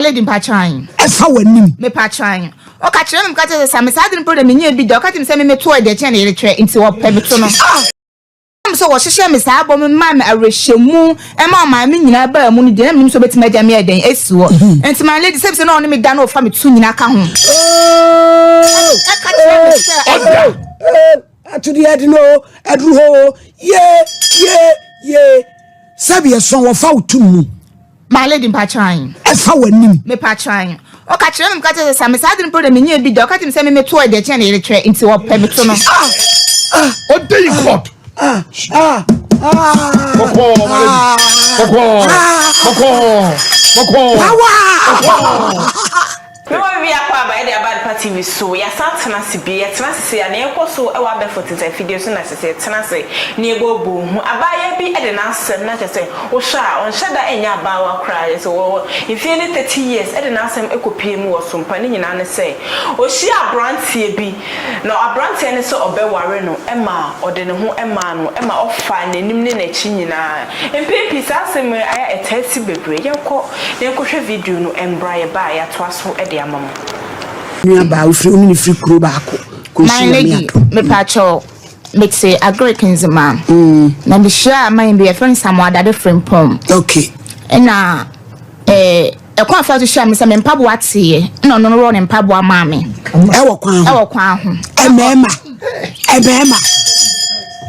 Lady mpakyɛw. Ɛfa w'anim. Mepakyɛw. Ɔka kyerɛ me, meka kyerɛ sɛ Sami saa ade no mpo deɛ menyɛɛ bi da. Ɔka kyerɛ me sɛ me meto ɛdeɛ kyɛn ne yere kyerɛ nti ɔpɛ meto no. Ah! Ɛnam sɛ wɔhyehyɛɛ me saa bɔ me maa me awerɛhyɛmu ɛma ɔmaa me nyinaa baa mu no deɛ na mennim sɛ ɔbɛtumi agya me ayɛ dɛn asi hɔ. Nti my lady sɛ bi sɛ na ɔne me da na ɔfa me to nyinaa ka ho. Ɛka kyerɛ me sɛ ɔda. Atodi ɛden o, aduru hɔ o, yee, yee, yee. Sɛbi ɛso wɔfa wo to mu. My lady mpakyɛw ann. Ɛfa w'anim. Mepakyɛw ann. Ɔka kyerɛ me meka kyerɛ sɛ sa me saa ade no mpo na menyɛɛ bi da. Ɔka kyerɛ me sɛ me meto ɛde ɛkyɛn ne yere kyerɛ nti ɔpɛ meto no. Ɔde yi court. Kɔkɔɔ my lady. Kɔkɔɔ. Kɔkɔɔ. Kɔkɔɔ. Power. Kɔkɔɔ. Na wɔawie akwaaba a ɛde aba adepa TV so, yɛasan atena ase bio. Yɛtena ase sei a, nea ɛkɔ so wɔ abɛɛfo nsensan afidie so na ɛsɛ sɛ yɛtena ase na yɛbɔ abɔ hu. Abaayewa bi de n'asɛm, na kyerɛ sɛ, wohwɛ a, ɔnhyɛ da nyɛ abaayewa koraa, kyerɛ sɛ, ɔwɔ mfeɛ ne thirty years, de n'asɛm kɔpuee mu wɔ Sompa. Ne nyinaa ne sɛ, ɔhyiaa aberanteɛ bi, na aberanteɛ no sɛ ɔbɛware no ma ɔde ne ho maa no, ma ɔfaa n'anim ne n'akyi nyinaa. Mpɛn pii saa asɛm yi a ɛtaa si bebree. Yɛnkɔ. Yɛnkɔhwɛ video no mbra yɛba a yɛatoa so de ama mo. Nua baa wofiri wone no firi kuro baako kɔ nsu nyame adom. My lady mepa kyɛw mete agric nzema mm. na me hyia aman bi yɛfrɛ no samoadade frimpɔm okay ɛna eh, ɛkwan afa so hyia me sɛ me mpaboa teeɛ ɛna ɔno no wɔ ne mpaboa maa me ɛwɔ kwan ho ɛwɔ kwan ho ɛmɛɛma ɛmɛɛma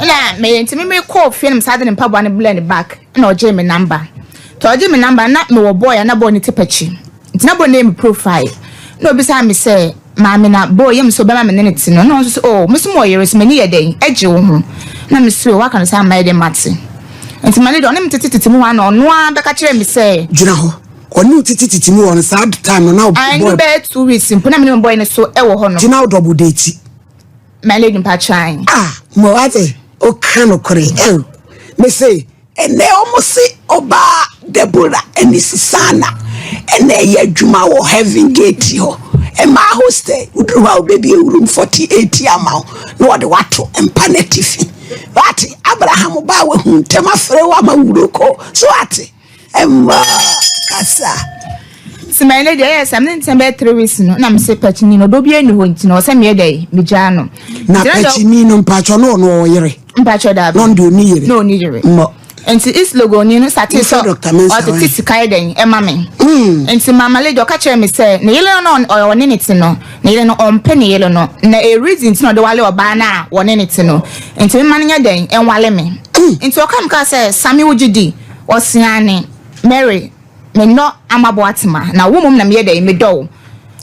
ɛna me ntumi me kɔɔ fie no me saa de ne mpaboa no blɛ ne back ɛna ɔgyee me namba Nti ɔgye me number na me wɔ boy a na boy no te pakyi nti na boy no yɛ me profile na obisa me sɛ maame na boy yɛ me sɛ ɔbɛma me ne no te no na ɔnso sɛ oh me so mo wɔ yere so m'ani yɛ dɛn ɛgye wo ho na me sɛ oh waka no saa mma yɛ dɛn mate nti ma ne deɛ ɔne me tete tete mu hɔ a na ɔno ara bɛka kyerɛ me sɛ gyina hɔ ɔne wo tete tete mu hɔ no saa time no na boy ɛno bɛyɛ two weeks mpo na me ne me boy no so ɛwɔ hɔ no nti na wo double date ma lady mpa kyan ah mo ate o ka no kore ɛw me sɛ Ɛnnɛ wɔse ɔbaa Deborah Anisisana na ɛyɛ adwuma wɔ Heaven Gate hɔ mmaa hostel. Woduru hɔ a wobɛbie room 48 ama wo na wɔde wo ato mpa no atifi. Woate? Abraham ba a wahu ntɛm afrɛ wo ama wuro kɔ. So woate? Ɛmma kasa. sima ne deɛ ɛyɛ sɛ mene ntɛm bɛyɛ three weeks no na mese pakyini no ɔdɔ bi ani hɔ nti na ɔsɛ meyɛ dɛ megyaa no na pakyini no mpakyɛ no ɔno ɔyere mpakyɛ daabi. na ɔno deɛ ɔni yere. na ɔni yere. mmɔ. nti east logoni no sate sɛ ɔtete sika yɛ dɛn ɛma me. Hmm. nti mama lady ɔka kyerɛ me sɛ ne yere no na ɔne ne te no ne yere no ɔmpɛ ne yere no na ɛyɛ reason nti na ɔde wale ɔbaa no a wɔne ne te no nti mema no nyɛ dɛn ɛnwale me. Hmm. nti ɔka me kaa sɛ same wogye di ɔseane mary Menɔ amabo atsema na wo mom na meyɛ dɛn medɔ wo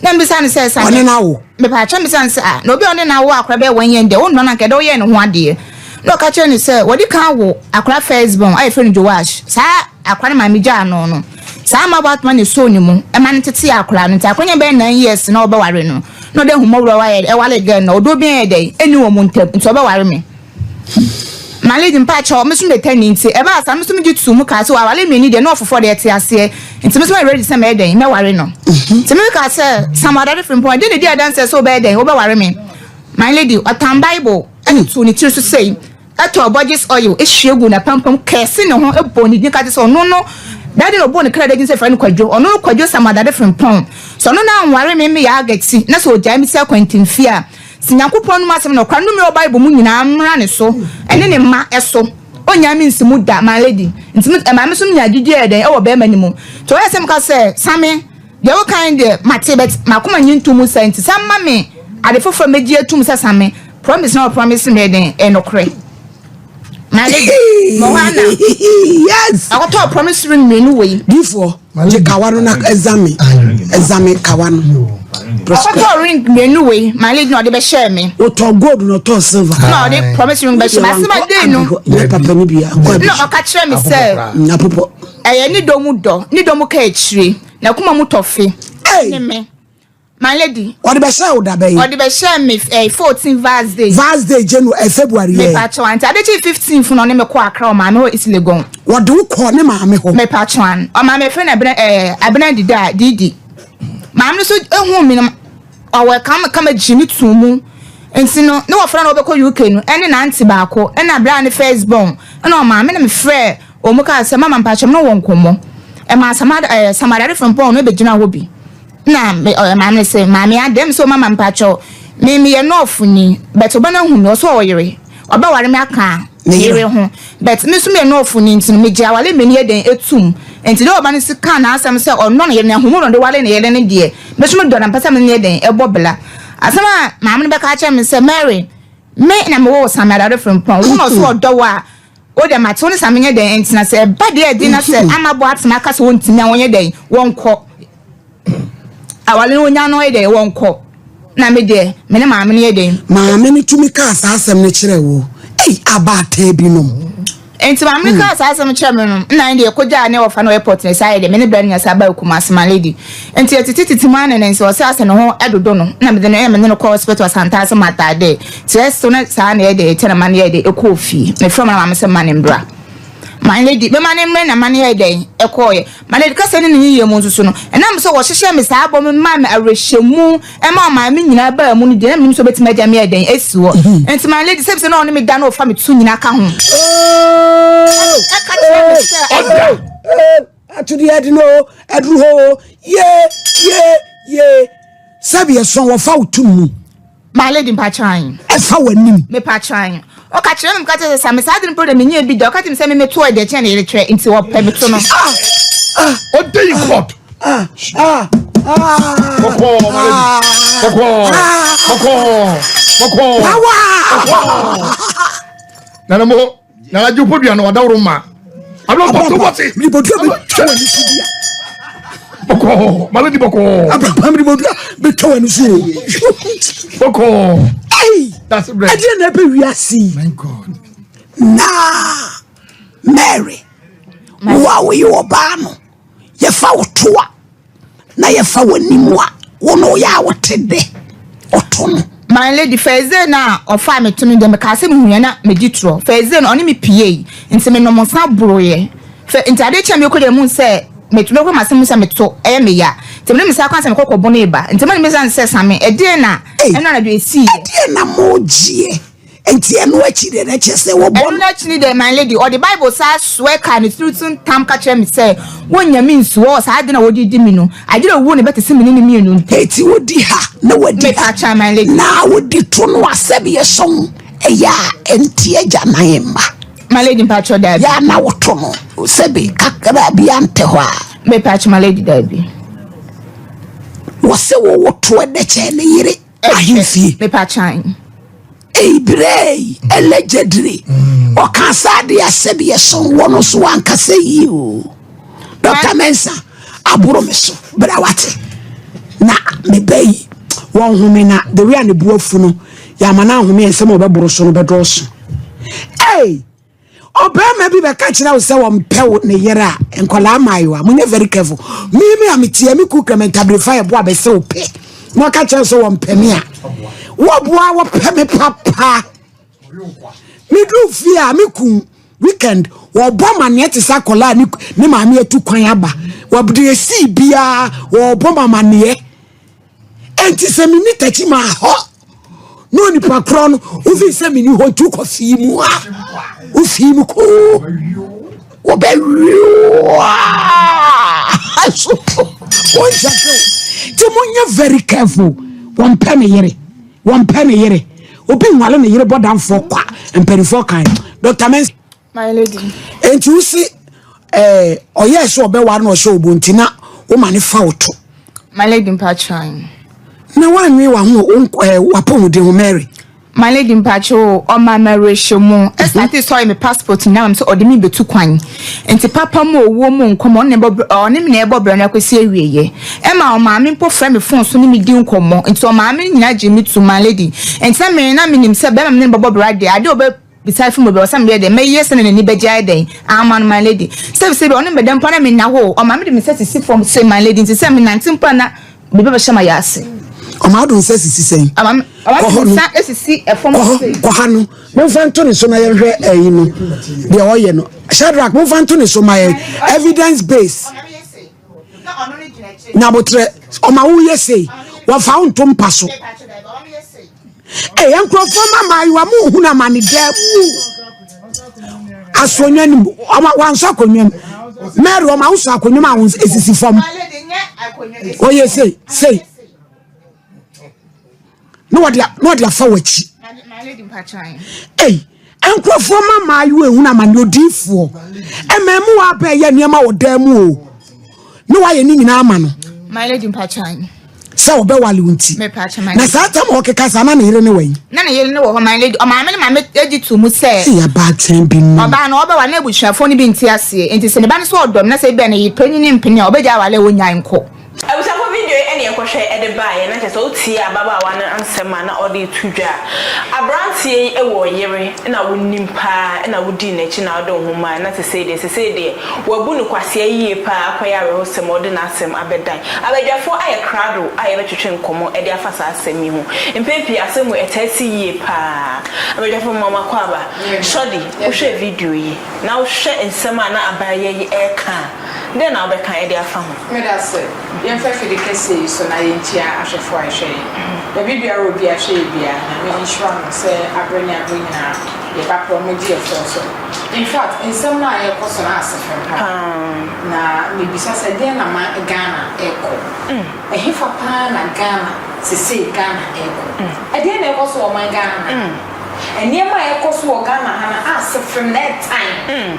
na mebisa no sɛ sa Ɔne no awo? Mepaakyɛ mebisa no sɛ ah na obi a ɔne no awo akora bɛyɛ wɔn yɛn dɛ wo nnɔ no anka ɛdɛ woyɛɛ ne ho adeɛ na ɔka kyerɛ no sɛ wɔde kan awo akora first born a yɛfrɛ no Joash saa akora no maame gyaa no no saa amabo atoma na ɛsoo ne mu ɛma no tetee akora no nti akora nya bɛyɛ nine years na ɔbɛware no na ɔde ahummɔborɔ ɛware girl no ɔdɔ bi a ɛyɛ dɛn ɛni wɔn ntam nti ɔbɛware me Malede, Mpakyɛw, me so metɛ no ntsi, ɛbaa saa, me so megye too mu kaa sɛ, Ɔaware mmienu yi deɛ, na ɔfoforɔ deɛ te aseɛ, ntsi me so mayɛ ready sɛ mɛyɛ dɛn? Mɛware no. Ntsi me so kaa sɛ, Sam Ɔdade Frimpong, ɛdeɛn na edi adanseɛ sɛ wobɛyɛ dɛn? Wobɛware me? My lady, ɔtan Bible de too ne tiri so sei, tɔɔ Borges oil hwie guu n'apampam, curse ne ho, bɔɔ ne din ka kyerɛ sɛ ɔno no, bɛyɛ dɛn na ɔbɔɔ ne kra din sɛ frɛ no Kwadwo, ɔno no Kwadwo Sam Ɔdade Frimpong. Sɛ ɔno no anware me, meyɛ agati, na sɛ ɔgyae me ti akwantinfie a, Se Nyankopɔn nom asem no kwa nnome wɔ Bible mu nyinaa mmra ne so ne ne mma so. Ɔnnyaa me nsi mu da, my lady. Nti me, ɛmaa me nso menyaa gyidie a ɛyɛ dɛn wɔ barima no mu. Nti ɔyɛ sɛ meka sɛ, Same, deɛ woka no deɛ mate but m'akoma nnye nto mu saa nti san ma me ade foforɔ a mɛgye atum sɛ Same, promise no a wɔpromise me yɛ dɛn? Ɛyɛ nokorɛ. My lady, Moana, akɔtɔ promise ring mmienu wei. Difoɔ. Gye kawa no na ɛzame ɛzame kawa no. Ɔkɔtɔ ring mmienu wei maa lady na ɔde bɛhyɛ me. Ɔtɔ gold na ɔtɔ silver. Na ɔde promise ring bɛhyɛ me asɛm a den no. Yɛ papa no bi akɔ abiri. Na ɔka kyerɛ me sɛ. Na popɔ. Ɛyɛ ne dɔ mu dɔ ne dɔ mu ka akyire na kuma mu tɔfe. Ɛne me. My lady. Ɔde bɛhyɛ wo da bɛyɛ. Ɔde bɛhyɛ me eh, 14 Vars day. Vars day Janu eh, February yɛ. Mepatwa nti adekye 15 funu ɔne me kɔ akra ɔmaa me hɔ isi legon. Wɔde wo kɔ ne maame hɔ. Mepatwa an ɔmaa me fɛ na abena eh abena didi a didi. Maame no so ehu mi no ɔwɔ kama kama gyi ne tu mu. Nti no ne wɔfrɛ no wɔbɛkɔ UK no ɛne n'ante baako ɛna abena ne first born ɛna ɔmaa me na me frɛ wɔn kaa sɛ mama mpatwa me no wɔ nkɔmɔ. Ɛmaa samada eh samadare fɛmpɔn no ebegyina hɔ bi. Na me ɔyɛ maame no se, Maame a, dɛm so mama mpakyɛw, me meyɛ nɔɔfo ni, but ɔba no ahu me, ɔse ɔyere, ɔbɛware me aka ne yere ho, but me so meyɛ nɔɔfo ni nti no megye awale mmɛ ni yɛ dɛn atum? Nti dɛ ɔba no se kaa n'asɛm sɛ ɔnnɔ ne yere na ahumu na ɔde ware ne yere no deɛ, me so medɔ no mpɛ sɛ me ne no yɛ dɛn ɛbɔ bla. Asɛm a maame no bɛka akyerɛ me sɛ, Mary, me na mewɔ wo Samuel Dade Frimpong, wo na ɔse ɔdɔ wo a, O dɛ matse wo no sa menyɛ dɛn ntsena sɛ ɛba deɛ ɛden na sɛ ama bɔ atsema aka sɛ wɔntumi a wɔnyɛ dɛn wɔnkɔ awale no wɔnya no yɛ dɛn wɔnkɔ na me deɛ me ne maame no yɛ dɛn maame no tumi kaa saa asɛm no kyerɛ wo ei abaataa bi nom nti maame no hmm. kaa saa asɛm kyerɛ me no nna ne deɛ kɔgyaa ne wɔfa no airport ne saa yɛ deɛ me ne bra no nya saa baa kuma asema lady nti ɛtete tete mu anene nsɛ ɔsɛ asɛ ne ho dodo no na mede no ɛmene no kɔ hospital asantaa sɛ mataa dɛ Sɛ so ne saa na yɛde tɛn ma no yɛɛ dɛn ɛkɔɔ fie? Mefrɛ mo na maame sɛ mma no mmra. Ma no di. Mema no mmerɛ na ma no yɛɛ dɛn ɛkɔɔeɛ. Ma no di. Kasa ne ne yiyɛ mu nso so no, ɛnam sɛ wɔhyehyɛɛ me saa bɔ me maa me awerɛhyɛmu ma ɔmaa me nyinaa baa mu no deɛ na menim sɛ ɔbɛtumi agya me yɛ dɛn asi hɔ. Nti ma no di. Sɛ bisɛ na ɔne me da na ɔfa me to nyina ka ho. Ɛka kyerɛ me sɛ ɔda. Atodi ɛde no o, ɛduru hɔ o, ye, ye, ye. Sɛbi ɛsɔn wɔfa wo to mu. My lady mpakyɛw ann. Ɛfa w'anim. Mepakyɛw ann. Ɔka kyerɛ me meka kyerɛ sɛ sa me saa ade no mpo deɛ menyɛɛ bi da. Ɔka kyerɛ me sɛ me meto ɛdeɛ kyɛn ne yere twerɛ nti ɔpɛ meto no. Ɔda yi court. Kɔkɔɔ my lady. Kɔkɔɔ. Kɔkɔɔ. Kɔkɔɔ. Power. Nana mo. na agye podua na wadaworo ma abirabɔsowɔte miribɔdua bɛtwa wɔ ne so bi a bɔkɔɔ mala di bɔkɔɔ abrabɔ miribɔdua bɛtwa wɔ ne so o bɔkɔɔ ɛyi ɛdeɛ na ɛbɛ wiase na mary wo a woyɛ ɔbaa no yɛfa wo toa na yɛfa w'anim a, wo na woyɛ a wote dɛ ɔto no. My lady, Fɛɛzee no a ɔfaa me to no deɛ, mekaa sɛ mehunuiɛ na medi torɔ. Fɛɛzee no, ɔne me pueeɛ, nti menom nsã boroeɛ. Fɛ, nti adeɛ kyeeɛ a merekɔ deɛ mehunuu sɛ me, mekura m'asɛm mu sɛ me to, ɛyɛ me ya. Nti mede me saa kwan sɛ mekɔ kɔbonee ba. Nti mode me sane sɛ same, ɛdeɛn na ɛnnora anadwo ɛsiiɛ? Ɛdeɛn na moregyeɛ? Enti ɛno akyi deɛ na kyerɛ sɛ wɔbɔ no. Ɛno no akyi no deɛ my lady ɔde Bible saa soɛ kaa ne tiri so ntam ka kyerɛ me sɛ wonnya me nsuo ɔɔ saa ade no a wɔde di me no adwene owuo na ɛbɛtese me ne no mmienu ntam. Eti wodi ha na wadi ha. Me pakyɛ my lady. Na wodi to no a sɛdeɛ song ɛyɛ a ɛnte agya nan mma. My lady mpakyɛ daabi. Yɛ a na woto no sɛbe kakra bi antɛ hɔ a. Me pakyɛ my lady daabi. Wɔsɛ wɔwɔ to ɛdɛkyɛ ne yere. ahemfie. Mepakyan ei berɛ ei allegedly mm. ɔka saa deɛ sɛdeɛ so wɔ no so wankasa yie o dɔkta mɛnsa aboro me so berɛ wate na meba yi wɔnhome na the way a ne boafu no yɛama no ahome ɛnsɛm a ɔbɛboro so no bɛdɔɔso ei ɔbarima bi bɛka kyerɛ wo sɛ wɔmpɛ wo ne yere a nkwadaa mmaayewa monyɛ very careful me me a metia me ku kɛmɛ ntabirifa yɛ boa bɛsɛ wo pɛ na ɔka kyerɛ sɛ wɔmpɛ me a wɔboa wɔpɛ me papa medu fie a me ku weekend wɔbɔ maneɛ te sɛ akɔlaa ne maame atu kwan aba wɔde ɛsii biara wɔbɔ mamaneɛ Enti sɛ menni takyi ma hɔ na onipa korɔ no wofii sɛ menni hɔ nti wokɔ fii mu a wofii mu koo wɔbɛwioa so wɔnhyɛ so nti monyɛ very careful wɔmpɛ ne yere wɔmpɛ ne yere obi nwale ne yere bɔdamfoɔ kwa mpanimfoɔ kan dr mensa Enti wo se eh, ɔyɛɛ sɛ ɔbɛware na ɔhyɛ obo nti na woma ne fa wo to. My lady mpatran. Na wanwe wa ho eh, wapɔmuden ho Mary. My lady mpacho ɔma mɛrehyɛ mu ɛsate sɔre me passport nyinaa mam sɛ ɔde me bɛtu kwan nti papa mu owuo mu nkɔmmɔ ɔne bɔ ɔne me na ɛbɔ brɛ no akɔsi awieɛ ɛma ɔmaame mpo frɛ me fon so ne me di nkɔmmɔ nti ɔmaame no nyinaa gye me tu my lady nti na me na menim sɛ bɛrima me ne bɔbɔ brɛ adeɛ adeɛ ɔbɛ Bisae fi mu bɛ, ɔsɛ meyɛ dɛn? Mɛyɛ sɛnea n'ani bɛgye ayɛ dɛn? Aa man my lady. Sɛ sɛ bi a ɔne mɛda mpo a na menna hɔ o, ɔma mede me sɛsisi fam se my lady nti sɛ menante mpo a na me ba bɛhyɛ m'ayɛ ase. Ɔma ɔde nsa sisi sɛn? Ɔma me, ɔma mede me nsa sisi fam kɔ hɔ, kɔ ha no, momfa nto ne so na yɛnhwɛ ɛyi no, deɛ ɔyɛ no. Shadrach, momfa nto ne so ma yɛn, evidence base. nyabotrɛ ɔma woyɛ sei wɔfa wo nto mpa so ɛyɛ nkurɔfoɔ ma maayewa mu hunu amane daa mu asonwa nim wansɔ akonnwa mu mary ɔma wosɔ akonnwa mu a ɛsisi fam ɔyɛ sei sei na wɔde na wɔde afa w'akyi ei nkurɔfoɔ ma mmaayewa ehunu amane odiifoɔ ɛmɛ mu wa abɛɛyɛ nneɛma wɔ dan mu o na wayɛ ne nyinaa ama no sɛ ɔbɛwale wo nti na saa tam a ɔkeka saa na ne yere ne wɔ yi na ne yere ne wɔ hɔ ma lady ɔmaame ne maame edi tu mu sɛ ɛyɛ abaatan bi mu ɔbaa no ɔbɛwa na abusuafoɔ no bi nti aseɛ nti sɛ ne ba no sɛ ɔdɔm na sɛ ebia ne yere panyin ne mpene a ɔbɛgya awale a ɔnyae nkɔ Abusafo video yi na yɛkɔhwɛ de baeɛ, na kyerɛ sɛ wotiee ababaawa no nsɛm a na ɔde reto dwa a, aberanteɛ yi wɔ yere na wonim pa ara na wodii n'akyi na wode wo ho mae na sesei deɛ sesei deɛ wabu no kwasea yie pa ara akɔyɛ awerɛhosɛm a ɔde n'asɛm abɛdan abadwafoɔ ayɛ krado a yɛbɛtwetwe nkɔmmɔ de afa saa asɛm yi ho. Mpɛn pii asɛm wei ɛtaa si yie pa ara. Abadwafoɔ mma mo akwaaba. Shordy, wohwɛɛ video yi na wohwɛ nsɛm a na abayewa yi reka a, Dɛn na wobɛka de afa ho? Meda ase. Yɛmfa afide kɛseɛ yi so na yɛnkyia ahwɛfoɔ a ɛhwɛ yɛn baabi biara a obi ahwɛ yɛn biara. Nyame nhyira wɔn sɛ aberɛ ne aberɛ nyinaa yɛba pɛ wɔn gye yɛfoɔ so. In fact, nsɛm no a ɛrekɔ so no ase fam paa. Na mebisa sɛ deɛn na ma Ghana rekɔ? Ɛhefa paa na Ghana sesei Ghana rekɔ? Ɛdeɛn na ɛrekɔ so wɔ ɔman Ghana ha? Nneɛma a ɛrekɔ so wɔ Ghana ha no ase fam na ɛtan.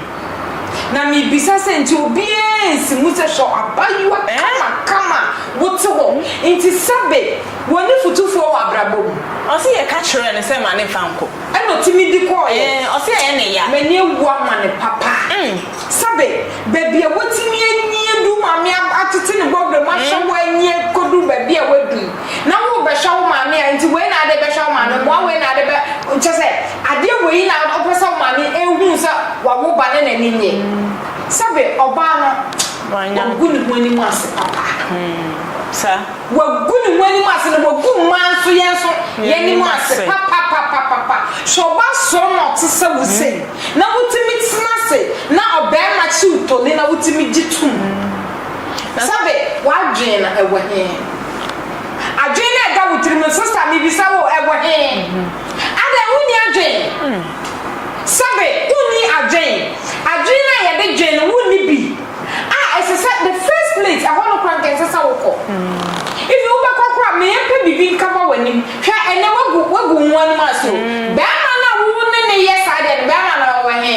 Na mibisa sɛ nti obiara nsi mu sɛ hwɛ abaayewa kamakama a wote hɔ nti sɛbe wɔ ne fotufoɔ wɔ abrabɔ mu. Ɔse yɛka kyerɛɛ no sɛ ma ne mfa nkɔ. Ɛna ɔtumi de kɔeɛ. Ɛɛ ɔse ɛyɛ ne ya. M'ani awu ama no papa. Sɛbe baabi a watumi anie duru maame atete ne bɔberɛ mu ahwɛ hɔ anie kɔduru baabi a waduru. Na wo bɛhwɛ wo maame a nti wei na ade bɛhwɛ wo maame mmoa wei na ade bɛ kyɛ sɛ adeɛ wei na ɔpɛ sɛ wo maame ehun sɛ wawo ba ne n'ani nye sɛbe ɔbaa no wagu ne ho anim ase papa wagu ne ho anim ase na wagu mmaa nso yɛn nso yɛn anim ase papapapapa sɛ ɔba soro na ɔte sɛ wo se na wotumi tena ase na ɔbɛrima kyiw toni na wotumi gye tum. Na sɛbe w'adwen no ɛwɔ he? Adwen no a ɛda wo tirim no, sista, mebisa wo, ɛwɔ he? Adɛn, wonni adwen? Sɛbe wonni adwen? Adwen no a yɛde dwen no, wonni bi? A, ɛsɛ sɛ, the first place, ɛhɔ no koraa, anka ɛnsɛ sɛ wokɔ. Even wobɛkɔ koraa, mempɛ biribi nkaba w'anim. Hwɛ, ɛnnɛ woagu, woagu wo ho anim ase o. Bɛɛma no a wo ne no yɛ saa deɛ no, bɛɛma no ɔwɔ he?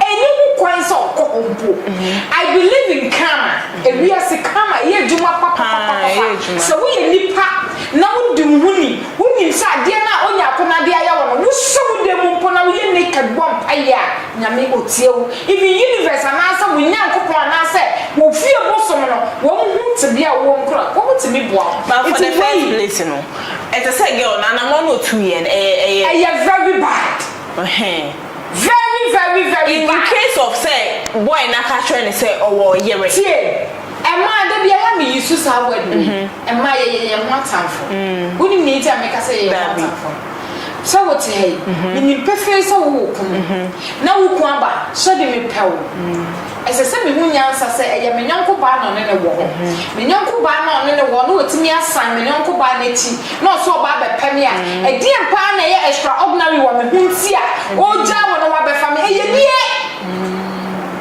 Ɛnni ho kwan sɛ ɔkɔ hɔ mpo. I believe in karma, ewiase karma, ɛyɛ adwuma papapapapa. Sɛ woyɛ nipa na wodi wo ho ni, wonim sɛ adeɛ no a Onyako no ade ayɛ wo no, wohyɛ wo dan mu mpo na woyɛ naked bɔ mpaeɛ a, Nyame ɔtie wo. Even universe anaasɛ wo Nyankopɔn anaasɛ wo fie bosom no, wɔn hu tebea a wowɔ mu koraa, wɔn tumi boa wo. But for the first place no, ɛte sɛ girl no, anamɔ no ɔtuiɛ no, ɛyɛ, ɛyɛ. Ɛyɛ very bad. Ɛhɛn. Very very very bad. In case of sɛ boy no aka kyerɛ no sɛ ɔwɔ ɔyere. Tie, ɛmaa da biara me use saa word wei, ɛmaa yɛyɛ yɛn ho atamfo. Wonim nea nti a meka sɛ yɛyɛ yɛn ho atamfo no? Sɛ wote ha yi, menim pefee sɛ wowɔ kunu, na wo kunu aba sɛ ɔde me pɛ wo. Ɛsɛ sɛ mihu nyansa sɛ ɛyɛ me yɔnko baa na ɔne no wɔ hɔ. Me yɔnko baa no a ɔne no wɔ hɔ no betumi asan me yɔnko baa no akyi na ɔsan aba abɛpɛ me a. Ɛdeɛn paa na ɛyɛ extraordinary wɔ me ho nti a ɔregyaa wo na wabɛfa me? Ɛyɛ nie,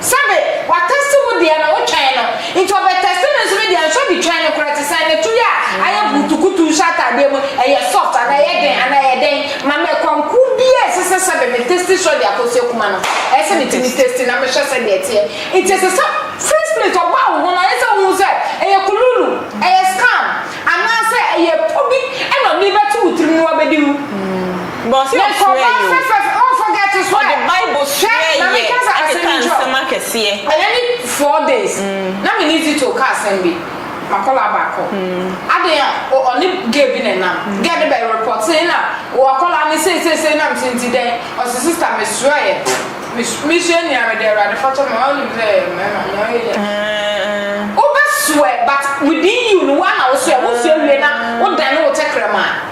Sɛbe watɛste wo deɛ na wotwɛn no, nti ɔbɛtɛste me nso me deɛ nso bi twɛn no koraa, te sɛ ne to yi a ayɛ burutukutu nhyɛ ataadeɛ mu, ɛyɛ soft anaa ɛyɛ den anaa ɛyɛ dɛn? Na mɛ kwan koro biaa ɛsɛ sɛ sɛdɛ me testi sɔ de akɔ sɛ kuma no ɛyɛ sɛ me tumi testi na me hwɛ sɛdɛ ɛteɛ nti ɛsɛ sɛ first plate ɔbaa wo ho no ayɛ sɛ wo hu sɛ ɛyɛ kululu ɛyɛ scam anaa sɛ ɛyɛ po bi ɛna ɔde bɛ to wo tirim no wa bɛ di wu na nkorɔba fɛfɛf ɔn forget so ɛ hwɛ na me kasa asɛm nkyerɛ wo ɛyɛ ne four days na me ne zito ka asɛm bi. Akwadaa baako. Adeɛ a o ɔne girl bi na ɛnam. Girl no bɛ repɔtee na o akwadaa no sei sei sei nam so nti dɛn. Ɔse sister me srɛɛ me su me sua nua me de awurade fɔtɔ me ma wonim sɛ yɛ mmarima nea ɔyɛ yɛ. Wobɛ swear but within you no wo ara na wo swear wo sua wie na wo dane wo tɛkrɛma.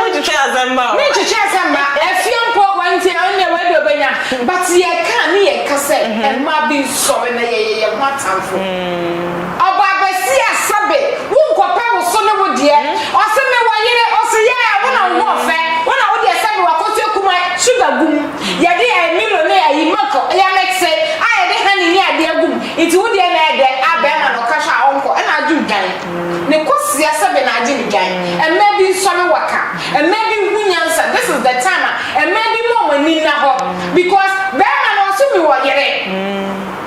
Wontwetwe asɛm mma o. Mentwetwe asɛm mma. Afie mpo wantie a ɛnneɛ wei deɛ ɔbɛnya. But yɛka a ne yɛka sɛ mmaa bi nsɔre na yɛyɛ yɛn ho atamfo. Ɔbaa basia sɛbe wonkɔpɛ wo so ne wo deɛ. Ɔse mewɔ yere ɔse yeah wo na wo ho ɔfɛ wo na wo deɛ sɛbe wakɔtu akumaa sugar gum yɛde ɛɛ milo ne ayi milk yɛ mixe a yɛde honey ne adeɛ agum nti wo deɛ na ɛyɛ dɛ a bɛɛma na ɔka hwɛ a ɔnkɔ ɛna adwo dwan. Me kɔ sia sɛ me na agye me dwan Mmaa bi nsɔre wɔ ka Mmaa bi nhu nyansa This is the time a Mmaa bi ma ɔmo ani nna hɔ Because bɛɛma no ɔse me wɔ yere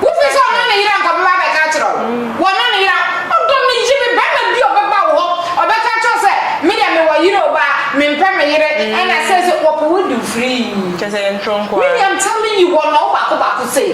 Wo fi sɛ ɔno ne yere anka ɔbɛba abɛka akyerɛ wo Wɔ no ne yere a ɔdɔ me yi me Bɛɛma bi a ɔbɛba wo hɔ Ɔbɛka akyerɛ wo sɛ me deɛ me wɔ yere o Baa me mpɛ me yere Ɛna seisei wɔpɛ wo de wo firii Kyerɛ sɛ yɛ ntoro nkoaa Me deɛ I'm telling you wɔnɔ wo baako baako sei.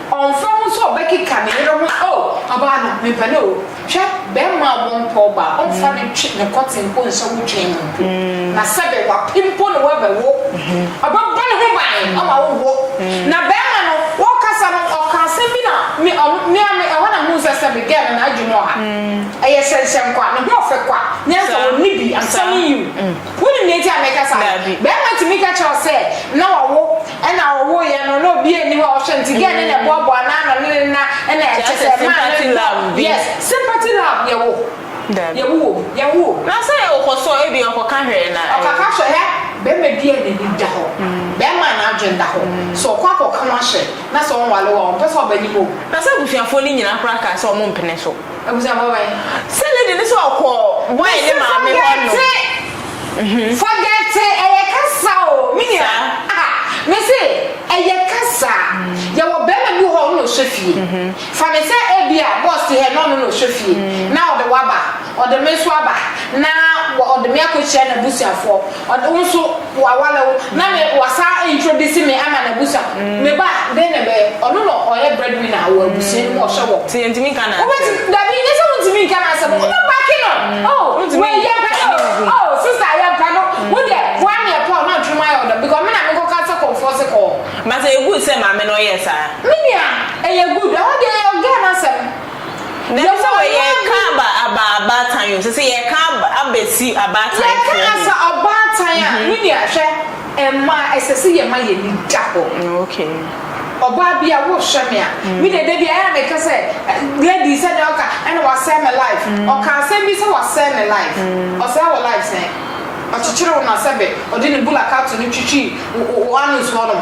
Ɔmfa ho sɛ ɔbɛkeka ne yere ho a, oh, ɔbaa no, mepɛ no o. Hwɛ, barima a wɔmpɛ ɔbaa, ɔmfa no ntwe ne kɔten mpo nsɔ wo twen mu mpo. Na sɛbe wapɛ mpo na wabɛwo, ɔbɛbɔ ne ho ban ama wowo. Na barima no, ɔrekasa no, ɔkaa asɛm bi na me, ɔno, me ara me, ɛhɔ na mehuu sɛ sɛbe girl no n'adwene wɔ ha. Ɛyɛ hyɛnhyɛn kwa, ne ho ɔfɛ kwa, ne anka ɔnni bi, I'm telling you. Wonim nea enti a meka saa no? Barima tumi ka kyerɛ wo sɛ, na wawo. Ɛna ɔwoo yɛ no na obia nni hɔ a ɔhwɛ no nti gɛɛ no na ɛboaboa no ano ne ne nna ɛna ɛkyɛ sɛ ɛmaa no dɔ yes sympathy love yɛ wo yɛ wo wom yɛ wo wom. Na sɛ ɔkɔ so a ebia ɔkɔ ka hwɛ na. Ɔkɔ ka hwɛ hɛ bɛɛma bi a n'ani da hɔ bɛɛma a n'adwen da hɔ sɛ ɔkɔ akɔ ka ho ahyɛ na sɛ ɔnwale wo a ɔmpɛ sɛ ɔba anim o. Na sɛ abusuafoɔ no nyinaa koraa kaa sɛ ɔmo mpene so. Abusuafo bɛn? Sɛ lady no sɛ ɔkɔ boy ne maame hɔ no. Mese forget, forget ɛyɛ kasa o, me nua. Saa. Aha, mese ɛyɛ kasa. Yɛwɔ bɛrima bi wɔ hɔ a ɔno na ɔhwɛ fie. Fa no sɛ ebi a boss te hɛ na ɔno na ɔhwɛ fie, na ɔde wo aba, ɔde me nso aba, na ɔde me akɔhyia n'abusuafoɔ, ɔde wo nso wa wale wo na me wa saa introduce me ama na busa me ba den na bɛyɛ ɔno na ɔyɛ bread winner wɔ abusua no mu ɔhyɛ wɔ ti ntimi nka na asɛm wobɛ dabi nyɛ sɛ wontimi nka na asɛm wobɛ baki no oh wei yɛ mpa no oh sister yɛ mpa no wo deɛ woa ne ɛpɔ na ntwom ayɛ ɔdɔ because me na me kɔ ka sɛ kɔmfoɔ se kɔɔ but ɛyɛ good sɛ maame na ɔyɛ saa me nua ɛyɛ good ɛhɔ deɛ yɛ ɔgɛ na asɛm Dɛm sɛ wɔ yɛ ka aba aba abaatan o sese yɛ ka aba aba si abaatan fo o. Yɛ ka asa ɔbaatan a me nua hwɛ mmaa ɛsɛ sɛ yɛ ma yɛ ni da hɔ. Okay. Ɔbaa bi a wo hwɛ me a me deɛ da bi a ɛyɛ a me ka sɛ lady sɛ deɛ ɔka ɛna wa sɛe me life ɔka asɛm bi sɛ wa sɛe me life ɔsɛe wo life sɛn ɔkyekyere wo na sɛbe ɔde ne bula kato no twitwi wo anus hɔ nom.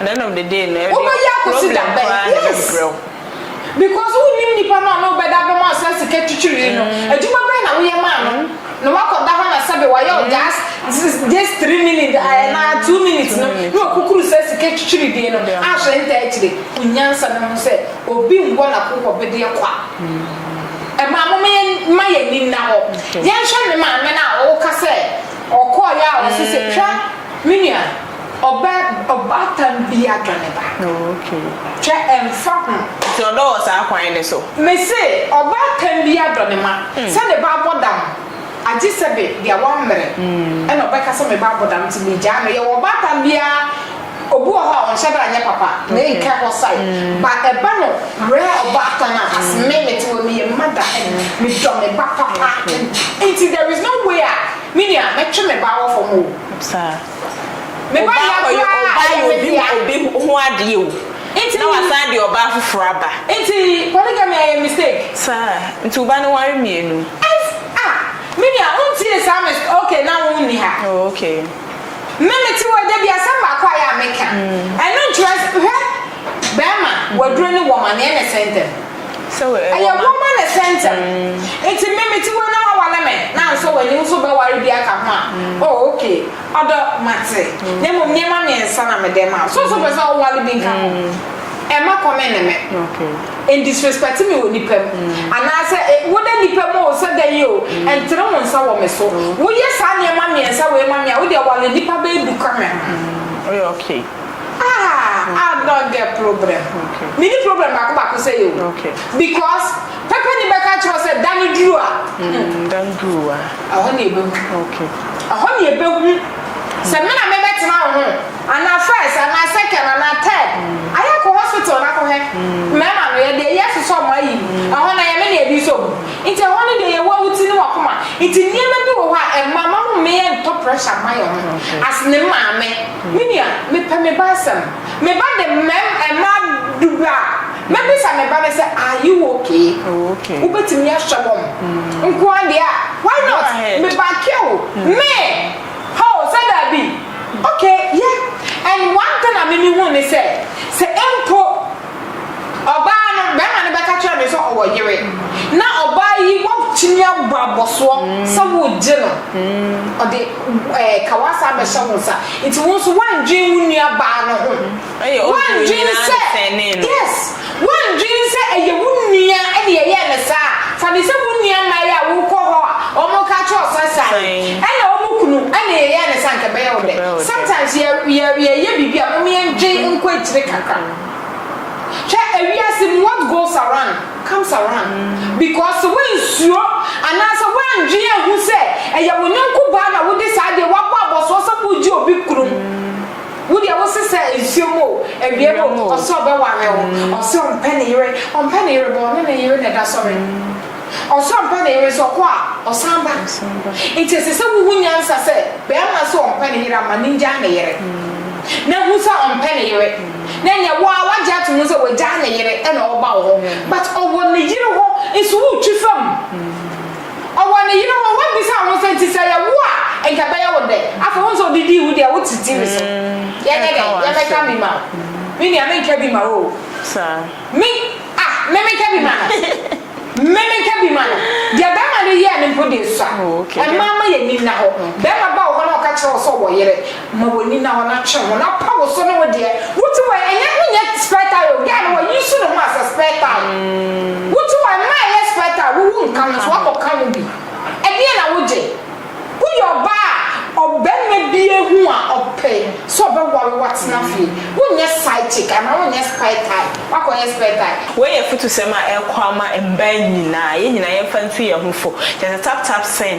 Ɛnɛnom dede no ɛdeɛ Wobɛyɛ akɔsi problem da bɛn? koraa na Yes. ɛbɛbrɛ wo. Because wonnim nipa no a na wobɛda abam a saa sika twitwirii no. Adwuma bɛn na woyɛ maa no? Na woakɔda hɔ na sɛbe wayɛ wo just this this three minutes ah, anaa two minutes no na wakukuru saa sika twitwirii deɛ no Yeah. ahwɛ ntaa akyire. Hu nyansa na hu sɛ obi nwɔ n'akokoɔbedeɛ kwa. Mmaa momma yɛn mma yɛn ani nna hɔ. Yɛnhwɛ ne maame no a woka sɛ ɔkɔɔeɛ a ɔse sɛ twa me nua. Ɔbɛ ɔbaatan bi adɔ ne ba. Oh okay. Hwɛ ɛnfa ho. Nti ɔdɔ wɔ saa kwan no so. Me se ɔbaatan bi adɔ ne ma sɛ ne ba abɔ dam agye sɛ be deɛ wammere ɛna ɔbɛka sɛ me ba abɔ dam nti me gyaa no yɛwɔ ɔbaatan bi aa obi wɔ hɔ a ɔnhyɛ da nyɛ papa na ɛnkɛ hɔ sae ba ɛba no werɛ ɔbaatan a as me mete wɔ meyɛ mother and me dɔ me ba papa nti there is no way a me nua mɛtwe me ba awɔ fam oo. Meba yɛ koraa a ɛyɛ me dea. Ɔbaa kɔyɛ obi ho obi ho adeɛ o. Nti. Na wasan de ɔbaa foforɔ aba. Nti polygamy ɛyɛ mistake. Saa nti wo ba no ware mmienu. Ɛs ah me nua wo ntie saa me okay na wo nni ha. Oh okay. Me me te hɔ yi dabi asɛm baako a yɛ a me ka ɛno nkyerɛ hwɛ bɛɛma waduro ne wɔma neɛ na ɛsɛ ntɛm. Ɛyɛ wɔma no sɛntsɛm. Ntsi me metse hɔ yi na wɔaware me na annsɔ w'enyi so bɛware bi aka ho a, oh okay, ɔdɔ, matse, na mbom ndzɛmba miɛnsa na mede rema wo. So so epɛ dɛ ɔware bi nka ho? Mma kɔm nne me. Enndisrespɛtse me wɔ nyimpa mu. Anaasɛ e, wo dɛ nyimpa mu o, sɛ dɛn yi o, nntsen wo nsa wɔ me so. Woyɛ saa ndzɛmba miɛnsa wei ma me a, wo deɛ ware nyimpa bɛyɛ du ka me ho. Ah, I don't get problem. Okay. Me ni problem baako baako sɛ yɛ o. Okay. Because pɛpɛ ni bɛka kyerɛ sɛ da ni duru a. Mm, da ni duru a. Ɛhɔ ni ebe hu. Okay. Ɛhɔ ni ebe hu. Sɛ mi na mi bɛ tena wo ho, ana first, ana second, ana third, mm. ayɛ kɔ hospital na kɔ hɛ. Mm. Mɛma no yɛ deɛ yɛ sosɔ ɔmo ayi. Mm. Ɛhɔ na yɛ mi na ebi so mu. Nti ɛhɔ ni deɛ yɛ wɔ wuti ni wakoma. Nti nneɛma bi wɔ hɔ a ɛma ma mo mmea ntɔ pressure ma yɛ ho. As ne maame. Me nua, mepɛ me ba asɛm. Me ba de mmarima, mmaa dubaa. Mɛbisa me ba no sɛ, Are you okay? Wobɛtumi ahwɛ wɔn nko ara deɛ a, why not? Me ba care wo? Me, Hoo, sɛ daabi? Okay, yeah. And one thing a me mehunu ne sɛ, sɛ mpo. Ɔbaa no, bɛrima no bɛka kyerɛ no sɛ ɔwɔ yere, na ɔbaa yi watumi abɔ abɔsoɔ sɛ woregye no, ɔde ɛɛ kawasa abɛhyɛ wo nsa. Nti wo nso woandwen wo nua baa no ho. Ɛyɛ obi a onyinaa ne sɛnee no. Yes, woandwen sɛ ɛyɛ wo nua na yɛyɛɛ no saa a, fa no sɛ wo nua mmaa yi a wokɔ hɔ a wɔka kyerɛ wo sɛ san yi, ɛna wɔn kunu na yɛyɛɛ no saa a, anka ɛbɛyɛ wo dɛ? Sometimes yɛ, yɛ, yɛyɛ biribi a, mom yɛndwen nkɔ akyire kakra. Hwɛ ewiase mu what goes around comes around because sɛ woansuro anaasɛ woandwen anhu sɛ ɛyɛ wo yɔnko baa na wode saa adeɛ woabɔ abɔsoɔ sɛ woregye obi kunu mu wo deɛ wo se sɛ nsuo mu o awia mu o ɔse ɔbɛware wo ɔse ɔmpɛ ne yere ɔmpɛ ne yere bɔ ɔne ne yere na ɛda sɔre Ɔsɔ ampa ne yere nso ɔkɔ a, ɔsan ba. Enti ɛsɛ sɛ wuhu nyansa sɛ barima nso ɔmpɛ ne yere amma no ngyaa ne yere. Na hu sɛ ɔmpɛ ne yere, na ɛneɛ wo ara wagye ato mu sɛ wagyaa ne yere na ɔreba wo hɔ. But ɔwɔ ne yere hɔ nso wotwi fa mu. Ɔwɔ ne yere hɔ wabisa wo sɛ nti sɛ yɛwo a nka ɛbɛyɛ wo dɛn? Afei wohu sɛ ɔde dii wo deɛ wote tiri so. Yɛnyɛ dɛn? Yɛbɛka bi ma wo. Me nua menka bi ma wo o. Me. Ah, me menka bi ma no. Me menka bi ma no. Deɛ bɛrima no yɛɛ no mpo deɛ sua. Oh, okay, deɛ. Mmaa ma yɛn ani nna hɔ. Mm. Bɛrima ba wɔ hɔ na ɔka kyerɛ wo sɛ ɔwɔ yere, ma w'ani nna hɔ na twe ho na pa wo so ne wo deɛ. Wo ti wɔ ɛnyɛ wonyɛ spare tire o, guy no wa use ne ho as a spare tire. Wo ti wɔ mmaa ɛyɛ spare tire, wowu nka ho nso woakɔ ka ho bi. Ɛdeɛn na wogye? Woyɛ ɔbaa a ɔbarima bi ahu a ɔpɛ sɛ ɔbɛware wo atena fie. Wonyɛ side chick anaa wonyɛ spare tyre. Woakɔyɛ spare tyre. Wei yɛ afutusɛm a ɛkɔ ama mmaa nyinaa, yɛn nyinaa yɛmfa ntu yɛn ho fo. Kyerɛ sɛ tap tap sɛn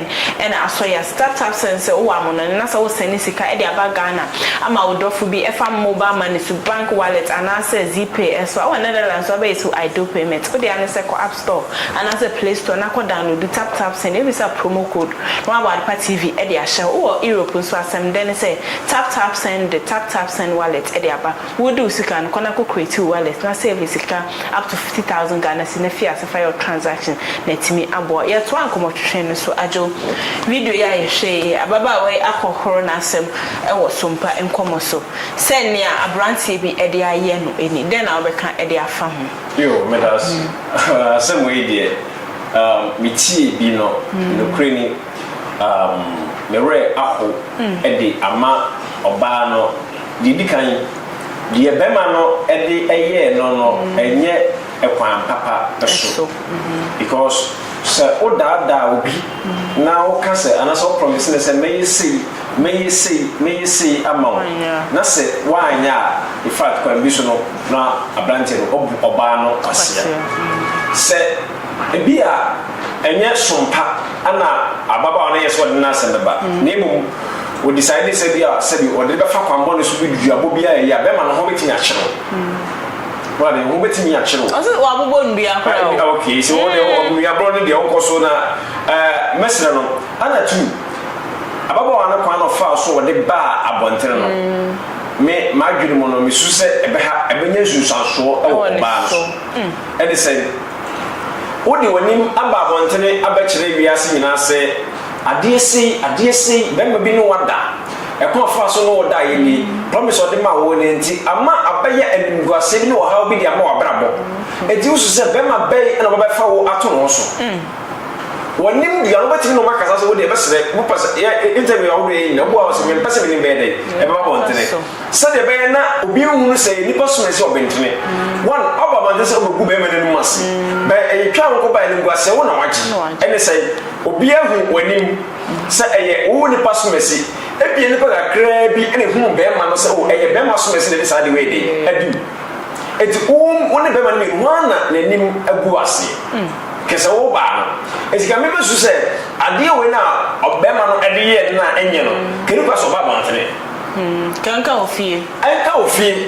na asɔ yɛn ase? Tap tap sɛn sɛ wowɔ amonɔne na sɛ wosɛne sika de aba Ghana ama wo dɔfo bi ɛfa mobile money so, bank wallet anaasɛ Zipay so a, wɔ Netherlands so abɛyɛ so iDoPayMet. Wo dea ne sɛ kɔ App. Store anaasɛ Play Store na kɔ downloadu TapTap Send, ebisa promo code na wɔabɔ Adepa TV de ahyɛ hɔ. Wowɔ Europe nso a, asɛm dɛn ne sɛ TapTap Send de TapTap Send Wallet de aba. Woredi wo sika no, kɔ na kɔ create wo wallet na save sika up to fifty thousand Ghana cedi na fi ase fa yɛ wo transaction na atumi aboa wo. Yɛtoa nkɔmmɔtwetwe no so adwo. Video yi a yɛhwɛ yi, ababaawa yi akɔhoro n'asɛm wɔ So Mpa nkɔmmɔ so sɛ nea aberanteɛ bi de ayɛ no ni. Dɛn na wobɛka de afa ho? Yoo medase asɛm wei deɛ um, me tie bi no mm. nokorɛ ni um, me werɛ aho mm. de ama ɔbaa no deɛ di kan deɛ bɛma no de ɛyɛɛ no no mm. ɛnyɛ ɛkwan papa so mm-hmm. because sɛ wodaadaa obi mm. na woka sɛ anaasɛ woprɔmese no sɛ mɛyɛ sei Mɛyɛ sei, mɛyɛ sei ama wo. Na sɛ woanyɛ a, in fact, kwan bi so no, na aberanteɛ no abu ɔbaa no kwasea. Sɛ ebia ɛnyɛ som pa na ababaawa no yɛɛ sɛ ɔde n'asɛm bɛba, na mmom ɔdecidee sɛ ebia sɛbi ɔde bɛfa kwan bɔne so bi duabɔ bi a ɛyɛ a, bɛrima no ho bɛtumi akyere wo. Woate aseɛ? Ho bɛtumi akyere wo. Ɔse wabobɔ nnua koraa o. Okay, sɛ wo deɛ, nnuaborɔ no deɛ, wokɔ so na ɛɛ, mɛsrɛ no. Ana tuu ababaawa no kwan a ɔfaa so a ɔde baa abɔnten no, me m'adwene mu no, misu sɛ ɛbɛha ɛbɛnya nsunsuansoɔ wɔ ɔbaa no so. Ɛne sɛn? Wode w'anim aba abɔnten abɛkyerɛ wiase nyinaa sɛ, Adeɛ sei, adeɛ sei, barima bi ne wo ada. Ɛkwan a ɔfaa so ne wo daeɛ nie. Promise a ɔde maa wo no nti, ama abɛyɛ animguaseɛ bi ne ɔhaw bi de ama w'abrabɔ. Enti wusu sɛ barima bɛn na ɔbɛbɛfa wo ato ne ho so? Wɔnim dua no, wobɛtumi ne wɔn akasa sɛ wodeɛ bɛsrɛ, wopɛ sɛ yɛ interview ahodoɔ yɛ nyina, wobuaa wɔ sɛ mempɛ sɛ menim bɛyɛ dɛn, ɛbɛba abɔntene. Sɛdeɛ ɛbɛyɛ na obi nhunu sɛ nnipa som ɛsɛ ɔbentene. One, ɔba abɔntene sɛ ɔbɛgu bɛrima no anim ase. Bɛ ɛyɛ twa wo kɔba animguaseɛ wo na wagye. Ɛne sɛn? Obiara hu w'anim sɛ ɛyɛ wo nnipa som ɛsɛ. Ebia nnipa kakraa bi na ɛhunu bɛrima no sɛ oh ɛyɛ bɛrima som ɛsɛ na ɛde saa ade wei dɛn adi wo. Enti wo ne bɛrima no mmienu hwan na n'anim agu aseɛ? Hwɛ sɛ wo baa no esi kame bɛ su sɛ adeɛ wei na ɔbɛma no ɛde yɛɛ no na ɛnyɛ no kani kora sɛ ɔba abɔntene. Kɛ nka wo fie. Ɛnka wo fie.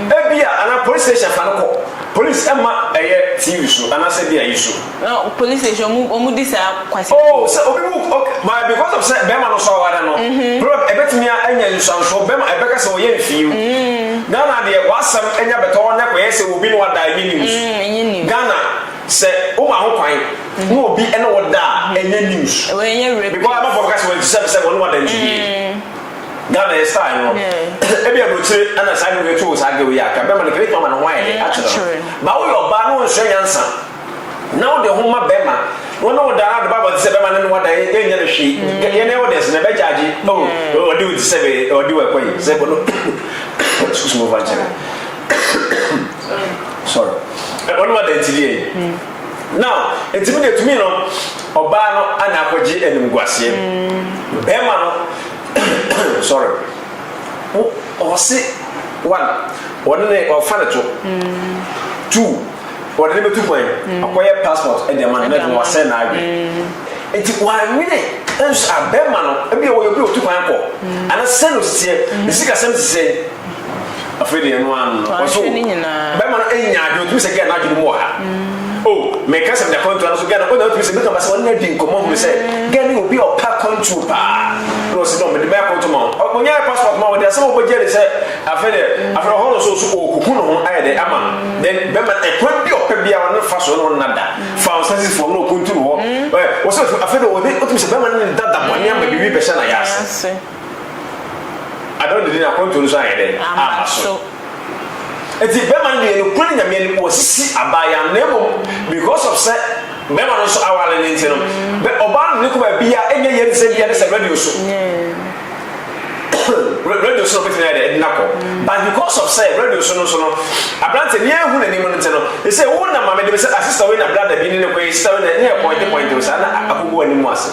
Ebia anaa police station fa no kɔ police ɛma ɛyɛ TV so anaasɛ bia yi so. No police station ɔmo ɔmo di saa kwasi. Oh sɛ obi bu ok by because of sɛ bɛɛma no so aware no problem ɛbɛtumi anya nsuansoɔ bɛɛma ɛbɛka sɛ ɔyɛ mfii o Ghana deɛ w'asɛm ɛnya bɛtɔ hɔ na ɛkɔyɛ sɛ obi na wada ɛnyɛ news. Ɛnyɛ news. Ghana sɛ wo ma ho kwan na obi ne wo da a ɛnyɛ news. Wei ɛnyɛ rape case. Because abɔfo bɛka sɛ wɔn ti sɛ sɛ wɔn ne wɔn da nti yie. Ghana yɛ style no. Ebi abrokyire ɛna saa de wɔatu wɔ saa girl yi a ka bɛma no kɛlɛ tuma ma ne ho ayɛ dɛ akyerɛ no. Ba woyɛ ɔbaa na wɔnsua nyansa na wode ho ma bɛma na wɔne wo da na wode ba abɔnten sɛ bɛma ne ne wada ɛnyɛ no hwee. Yɛn ɛwɔ dɛs na ɛbɛ gyaagye oh ɔde wo ti sɛ ɔde wo ɛkɔ yi sɛ bɔno excuse me ɔfa nkyɛn. sorry ɛwɔ no ada nti deɛ now nti mi deɛ tumi no ɔbaa no ana akɔgye animguaseɛ bɛrima no sorry ɔse one ɔne ne ɔfa ne to two ɔde ne bɛtu kwan ɔkɔyɛ passport ɛde ama no na ɛfɛ wasɛ na adwe nti wanwene nso abɛrima no ebi a wɔyɛ obi a ɔtu kwan kɔ ana sɛ no sisiɛ ne sikasɛm sisiɛ afei deɛ ɛno ano no ɔso bɛma no anya adwene otumi sɛ gɛn n'adwene mu wɔ ha o mɛka sɛ mɛda kwantuo no so gɛn ɔna otumi sɛ mɛka basɛ ɔne adi nkɔmɔ hu sɛ gɛn ne obi a ɔpɛ kwantuo paa na ɔsi dɔm mɛde mɛyɛ kwantuo ma wɔn ɔnyɛ ayɛ passport ma wɔn de asɛm a wɔbɛgye de sɛ afei deɛ afei ɔhɔ no so so ɔkuku no ho ayɛ dɛ ama no then bɛma ɛkwan bi ɔpɛ bi a ɔne fa so ne wɔn nada fa wɔn sɛsi fam na ɔkuntu no hɔ wɔsɛ afei deɛ ɔde otumi sɛ bɛma ne dada bɔne ama bibi bɛhyɛ na yɛ ase Adɔ de ne akwantuo no so anyɛ dɛn? Amma so. Nti bɛma no deɛ nokura ne Nyame anim wasisi abaayaa no na mmom because of sɛ bɛma no nso aware no nti no bɛ ɔbaa no ne kɔ baabia ɛnyɛ yɛn sɛ bia ne sɛ radio so radio so na ɔbɛtumi ayɛ dɛ ɛde nakɔ but because of sɛ radio so no nso no aberante ne ahu n'anim no nti no ɛsɛ wo na maame de me sɛ asista wei na brada bi ne ne kɔ yɛ sista wei na ne yɛ pɔinte pɔinte no saa na akɔgu anim ase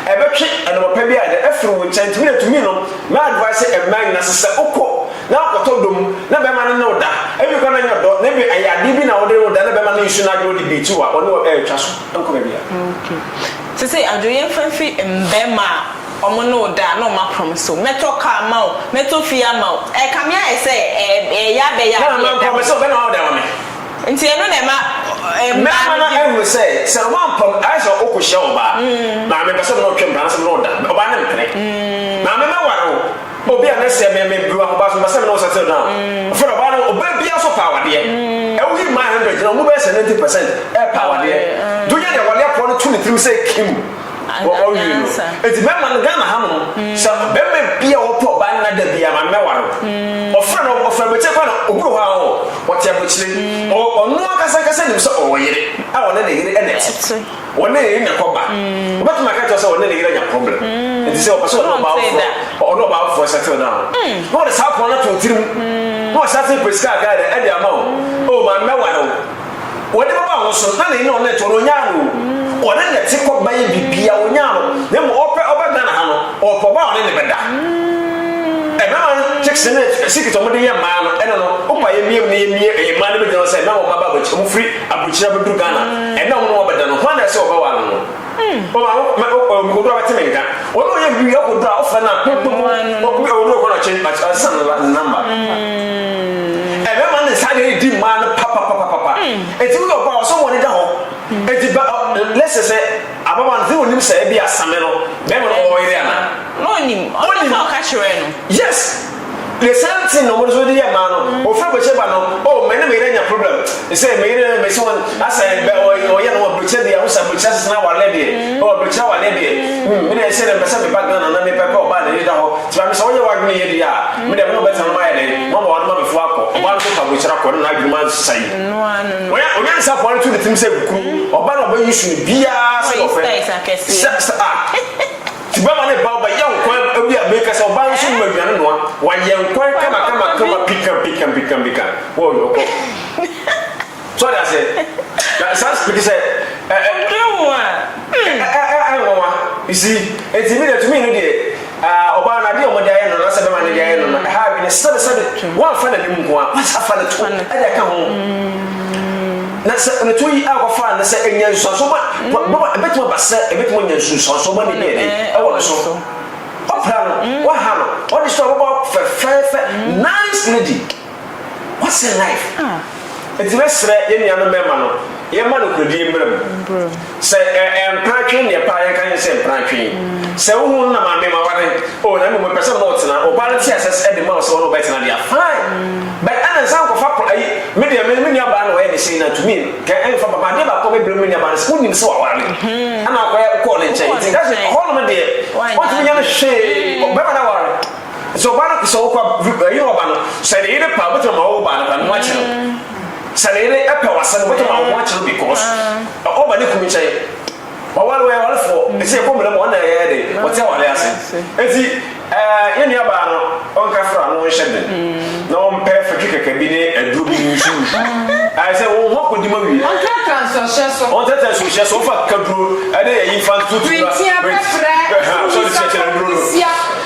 Ɛbɛtwe anɔpapa bi a de afiri wo nkyɛn nti mena tumi nom mɛ advice mmaa nyina se sɛ okɔ na akɔtɔ dɔ mu na bɛma no ne wo da ebi kora na nyɛ ɔdɔ na ebi ɛyɛ adeɛ bi na wode ne wo da na bɛma no nsu no adwene ɔde beat wo a ɔne wo ɛretwa so nkɔ baabiara. Sesei adwo yɛmfa mfiri mmarima a ɔmo ne wo da a na ɔmo aprom so mɛtɔ car ama wo mɛtɔ fie ama wo ɛkame ayɛ sɛ ɛyɛ abɛyɛ adeɛ ɛda hɔ. Na ama nkɔ mese wo bɛna wawɔ da ama me. Nti ɛno na ɛma mmaa no di. Mmarima no ahunu sɛ, sɛ wɔampam, ayɛ sɛ wokɔhyia ɔbaa, Maame, mpɛ sɛ me ne wo twe mpena anaasɛ me ne wo da. Ɔbaa no mpene. Maame, mɛware wo. O, bia na sɛ me, mebiri w'ahoba so, mpɛ sɛ me ne wo settle down. Afei na ɔbaa no, ɔbaa biara nso pɛ awadeɛ. Ɛwɔ he mmaa 100 no, wɔn mu bɛyɛ sɛ 90 percent pɛ awadeɛ. Nti wonyɛ deɛ wɔde apoa no to ne tirim sɛ Kim. Wɔ ɔwie no, enti mɛma no Ghana ha nom sɛ barima bi a ɔpɛ ɔbaa nna da bi a maame mɛware wo. Ɔfrɛ no ɔfrɛ abɔkyire paa na obi wɔ hɔ a ɔwɔ ɔte abɔkyire. Ɔ ɔno ankasa ankasa nim sɛ ɔwɔ yere a ɔne ne yere na ɛte. Ɔne ne yere na ɛkɔ ba. Ɔbɛtumi aka akyerɛ wo sɛ ɔne ne yere anya problem enti sɛ ɔpɛ sɛ ɔne ɔbaa foforɔ ɔ ɔne ɔbaa foforɔ settle down na ɔde saa pɔn no ato wo tirim na wasan ase repɛ sika kakra de ɛde ama wo. Oh maame mɛware wo. Wɔde bɛba wɔn so, na n'ani na ɔne to no, ɔnyaa no o. Ɔne ne te kɔ bɛyɛ bibia, ɔnyaa no. Na mmom ɔpɛ ɔba Ghana ha no, ɔpɛ ɔba a ɔne ne bɛda. Ɛmɛma chicks ne secret ɔmo de yɛ mmaa no, ɛna no, ɔpɛ a yɛmie mu na yɛmie ɛyɛ mmaa no bɛgyina hɔ sɛ, na wɔn mma ba abɔkyi, ɔmo firi abɔkyire abɛduru Ghana, ɛna ɔmo ne wɔn abɛda no, hwan na ɛsɛ ɔbɛware no? Ɔma wo ma okoduro abɛte me nka. Ɔno ɔyɛ biribi yɛ okoduro a ɔfrɛ no a ɛbɔ mu ɔkɔ ɔwɔ no kɔ na kyɛn ɔsan ne namba. Ɛbɛma ne nsa ayɛ di mmaa no papapapapa. Eti woyɛ ɔbaa ɔsɛ wɔn ani da hɔ. Eti ba lɛsɛ sɛ ababaa no sɛ onim sɛ ebi asame no bɛrima no ɔyere ana. N'onim ɔno na ɔka kyerɛ no. Yes. The same thing na wɔn nso de yɛ mmaa no. Ofiri abɔkyɛ ba no, oh me ne me yere anya problem. Sɛ me yere me se wɔn asɛ bɛ ɔyɛ no abɔkyɛ deɛ ahosuo abɔkyɛ asesa awareɛ deɛ, oh abɔkyɛ awareɛ deɛ, hmm me deɛ sɛ deɛ mpɛ sɛ me ba Ghana na me pɛ pɛ ɔbaa na yɛda hɔ. Ti maame sɛ wɔyɛ wɔadwene yɛ deɛ a, me deɛ me ne ɔbɛtena no ma ayɛ dɛn? Mo ama wɔn ma before akɔ. Ɔbaa no nso fa abɔkyɛ akɔ na n'adwene ma asesa yi. Wɔyɛ onyansafoɔ no to ne tirim sɛ kunu ɔbaa no ɔbɛ use no biara sɛ deɛ ɔpɛ. Sɛ sɛ ah. Nti bɛma ne ba ɔbɛyɛ nkwan awi a meka sɛ ɔbaa no so nom aduane noa, wayɛ nkwan kamakamakama pikampikampikampikan wɔ ɔkɔ. So ɔde aseɛ? Na saa speke sɛ ɛ ɛ. Ɛduru ho a. Ɛ ɛ ɛ nwanwa. You see? Nti mi deɛ to me no deɛ ah ɔbaa no adeɛ a wɔde ayɛ no anaasɛ bɛma no de ayɛ no no ɛha adwene sɛbesɛbe. Wɔamfa n'anim nko ara, wɔasa fa ne to ɛde aka ho. Na sɛ onitan yi a wɔfaa no sɛ anya nsunsuansoɔ ma bɛbɔ a, ɛbɛtumi aba sɛ ɛbɛtumi anya nsunsuansoɔ ma ne DNA wɔ ne so. Wɔpra no, wɔha no, wɔde sɔ a wɔbɔ fɛfɛɛfɛ, nice lady, what's in life? Nti mɛsrɛ yɛn nuanom mmarima no, yɛmma nokorɛdie mmra mu. Sɛ ɛ ɛ mpratwen ne ɛpaa yɛn ka yɛn sɛ mpratwen. Sɛ wo ho no na maame ma ware o na mmom mepɛ sɛ me ne wo tena, ɔbaa no te asɛ sɛ de ma wo sɛ wo ne wo bɛtena deɛ a fine but ɛna nsan nkɔfa pro ayi me deɛ me ne me nuabaa na ɔyɛ ne sei na tumi ka ɛmfa ba ma adeɛ baako a mɛbrɛ me nuabaa no sɛ wonim sɛ waware me ɛna akɔyɛ kɔɔ ne nkyɛn nti nka sɛ hɔ nom deɛ ɔntumi nyɛ no hwee bɛma no aware sɛ ɔbaa no sɛ wokɔ ayi na ɔba no sɛ ne yere pa wobɛtumi ma wo baa no pa no ho akyerɛ Sɛ ne yere pɛ w'asɛm a, obetumi ama wo ho akyere no because ɔba ne kunu nkyɛn. Waware, wɔyɛ awarefoɔ, ɛsɛ yɛkɔ mmara mu, wɔn na ɛyɛ dɛn? Wɔte awareɛ ase. Enti eh, yɛn nuabaa no, ɔnka fra na ɔnhyɛ den, na ɔmpɛ fatwi kɛkɛ bi ne aduro bi nsu ngu. Ayɛ sɛ wɔn ho akɔdi mu awie. Ɔntratra nsuohyɛ so. Ɔntratra nsuohyɛ so, ɔmfa akekaduro ne ayi mfa ntoto nnura. Printia, pɛprɛ, nsuo nsuo akɔnɔ, nsia.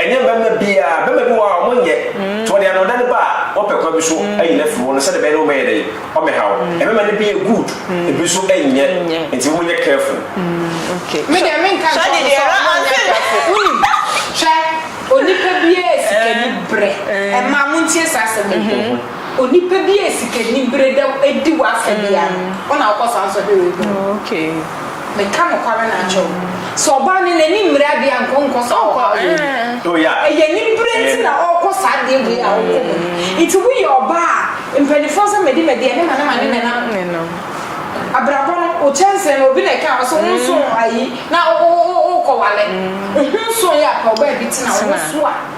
Ɛnyɛ bɛma biaa, bɛma bi wɔ hɔ a ɔmo nyɛ, nti ɔde anɔda no ba a, ɔpɛ kwan bi so ayi no afiri hɔ no sɛdeɛ ɛbɛyɛ na ɔmɛyɛ dɛn, ɔmɛhaw wo. Ɛbɛma no bi yɛ good, ebi nso nyɛ, nti mo nyɛ careful. Me deɛ me nka nkyerɛ ɔmo sɛ ɔmo nyɛ careful, wonim, hwɛ, onipa biaa sikani brɛ, ɛmaa montie saa asɛm yi. Onipa bi a sikanibere da adi w'afa biara no, wo na wokɔ saa nsɔhwɛ wei ho. Oh, okay. Meka nokware na akyɛ wo. Sɛ ɔbaa no n'ani mmere adeɛ a, nka ɔnkɔ saa ɔhaw wei mu. Eh. Oh, yeah. Ɛyɛ anibere nti na ɔrekɔ saa adeɛ wei a ɔkɔ mu. Nti woyɛ ɔbaa a, mpanimfoɔ sɛ mede madi ɛne ma ne ma ne ne nam. Ne nam. Abrabɔ no, wo kyɛnsee no, obi na ɛkaa wo sɛ wo nso ayi na wokɔwale. Wo ho nso yɛ a, pɛ ɔbaa bi tena wo ho so a.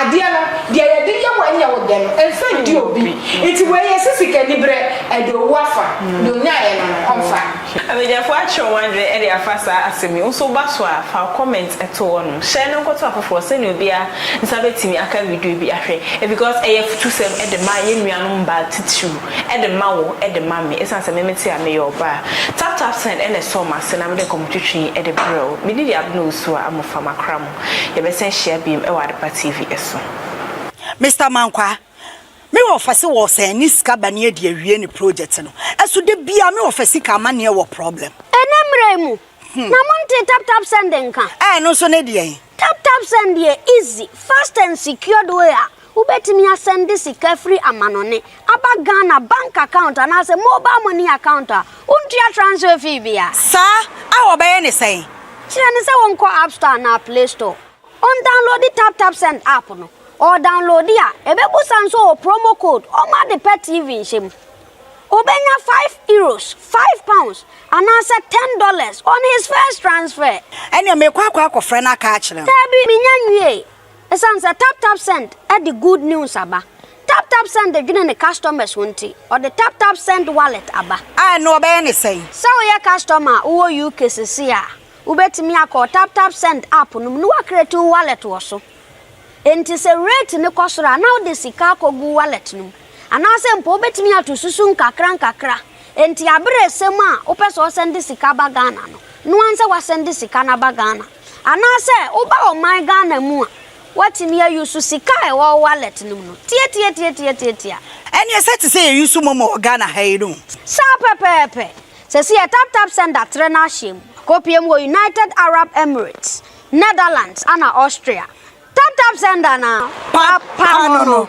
Adeɛ no, deɛ yɛde yɛ wo ɛnyɛ wo dɛ no, ɛmfa ndi obi. Nti wei yɛ sɛ sikaniberɛ, ɛde owu afa, deɛ ɔnyaeɛ no no, ɔmfa. Abadwafoɔ akyerɛ wɔn adwene de afa saa asɛm yi ho. So woba so a, fa wo comment to hɔ nom. Share no nkɔto afoforɔ sɛdeɛ obiara nsa bɛtumi aka video bi ahwɛ. Because ɛyɛ afutusɛm de ma yɛn nuanom mmaa titiriw, de ma wo, de ma me. Ɛsiane sɛ me mete a meyɛ ɔbaa. Tap tap send na ɛsɔ m'ase na mede nkɔmmɔtwetwe de brɛ wo. Medi yɛ abena osu a, amofa m'akra mu. Yɛbɛsan ahyia biom wɔ Adepa TV so. Mister Mankwa, me wɔfa se wɔsan ani sika ba ne adi awie ne project no so da biaa me wɔfa sika amaneɛ wɔ problem. Ɛnɛ mmerɛ yi mu na mo ntee tap tap send nka? Ɛɛ ɛno nso ne deɛn? Tap tap send yɛ easy, fast and secured way a Wobɛtumi asɛnde sika firi amanɔne aba Ghana bank account anaasɛ mobile money account a wontua transfer fee bia. Saa a wɔbɛyɛ ne sɛn? Kyerɛ no sɛ ɔnkɔ App Store anaa Play Store, ɔndownloadi Tap Tap Send app no. Ɔredownloadi a, ɛbɛbusa no sɛ ɔwɔ promo code ɔma ade pɛ TV nhyɛ mu. Ɔbɛnya five Euros, five pounds, anaasɛ ten dollars on his first transfer. Ɛneɛ merekɔ akɔ akɔfrɛ no aka akyerɛ no. Daabi, menya nwiee. Esiane sɛ TapTapSend de good news aba, TapTapSend dwene ne customers ho nti, ɔde TapTapSend Wallet aba. A ɛno wɔbɛyɛ no sɛn? Sɛ woyɛ customer a wowɔ UK seesei a, wobɛtumi akɔ wo TapTapSend app no mu na woacreate wo wallet wɔ so. Enti sɛ rate no kɔ soro a, na wode sika akɔgu wo wallet no mu. Anaasɛ mpo wobɛtumi ato susu nkakra nkakra. Enti aberɛ resɛm a wopɛ sɛ wosɛnde sika ba Ghana no, noa nsɛ woasɛnde sika no aba Ghana. Anaasɛ woba ɔman Ghana mu a, woatumi ayusu sika a ɛwɔ wo wallet no mu no tiatiatiatiatiatia. Ɛnneɛ sɛ te sɛ yɛyusu momo wɔ Ghana ha yi no? Saa pɛpɛɛpɛ. Seesei yɛ Tap Tap Send atrɛ no ahyɛ mu. Kɔpue mu wɔ United Arab Emirates, Netherlands ɛna Austria. Tap Tap Send anaa? Pa pa no no.